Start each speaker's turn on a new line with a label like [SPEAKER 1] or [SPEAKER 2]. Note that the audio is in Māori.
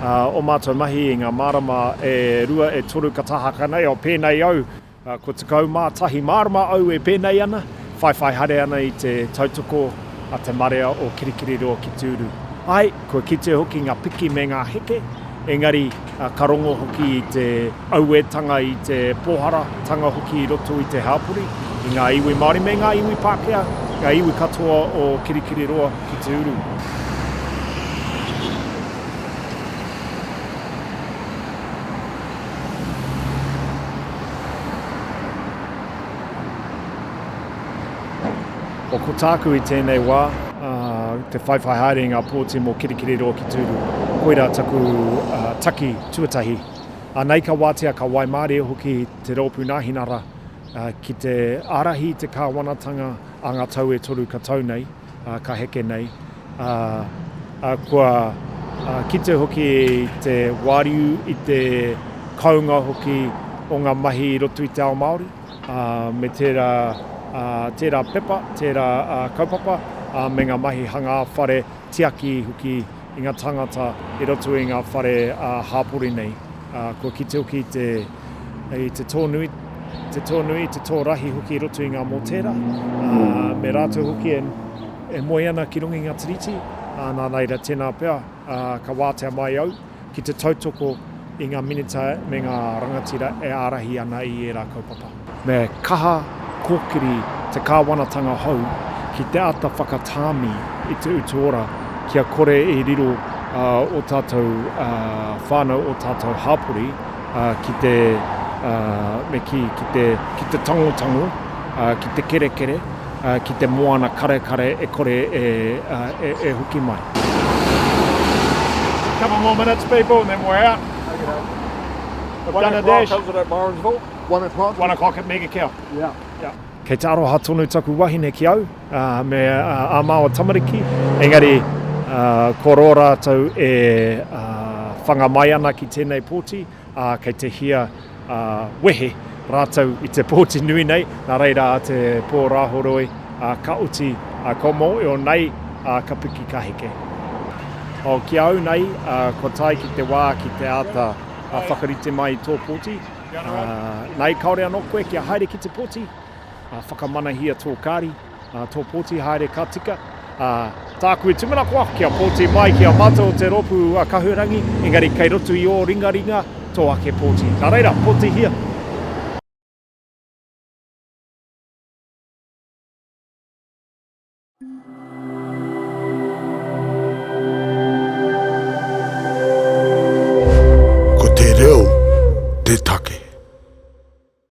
[SPEAKER 1] Ā, ō mātou mahi i ngā marama e rua, e toru ka tahaka nei, ō, pēnei au, kua tekau mā tahi marama au e pēnei ana, whaiwhai haere ana i te tautoko a te marea o Kirikiriroa ki Tūru. Āe, kua kitea hoki ngā piki me ngā heke, engari, Ka rongo hoki i te auetanga, i te pōhara tanga hoki i roto i te hāpori, i ngā iwi Māori me ngā iwi Pākehā, ngā iwi katoa o Kirikiriroa ki te uru. o ko tāku i tēnei wā, ā, te whaiwhai haere i ngā pōti mō Kirikiriroa ki Tūru. Koirā taku ā, taki tuatahi. Anei ka wātea, ka waimārie hoki te Rōpū Nāhinara ā, ki te ārahi i te kāwanatanga a ngā tau e toru ka tau nei, ā, ka heke nei, ā, ā, kua ā, kite hoki te wāriu i te kounga hoki o ngā mahi i roto i te ao Māori. me tērā, tērā pepa, tērā kaupapa, me ngā mahi hangā whare, tiaki hoki i ngā tāngata i roto i ngā whare hāpori nei. Kua kite hoki te, i te tōnui, te tōnui, te tō rahi hoki i roto i ngā mōtēra, me rātou hoki e moe ana ki runga i ngā tiriti, nā reira tēnā pea ka wātea mai au. ki te tautoko i ngā minita me ngā rangatira e ārahi ana i ērā kaupapa. Me kaha kōkiri te kāwanatanga hou ki te āta whakatāmi i te utu ora kia kore i riro ō tātou whānau, ō tātou hāpori ki te, me kī, ki te tangotango, ki te kerekere, Ki te moana karekare e kore e hoki mai.
[SPEAKER 2] Couple more minutes people and then we're out. Okay doke. We've done a dash. One o'clock comes at Morrinsville.
[SPEAKER 3] One o'clock. One o'clock at Mega Kea. Yeah. Kei te aroha
[SPEAKER 1] tonu taku wahine ki au me a maua tamariki engari ko ro ratou e whanga mai ana ki tenei poti. ā, kei te hia ā, wehe rātou i te pōti nui nei, nā reira ā te pō Rāhoroi, ā, ka oti ā, kua mōio nei, ā, ka piki ka heke. Oh, ki a au nei, ā, kua tae ki te wā ki te āta ā, whakarite mai i tō pōti, ā, nei kāore anō koe kia haere ki te pōti, ā, whakamanahia tō kāri, Ā, tō pōti haere ka tika, ā, tāku e tūmanakoa kia pōti mai ki a mātou o te rōpū a Kahurangi, engari kei roto i ō ringaringa tō ake pōti. Nā reira, pōtihia! Ko te reo te take.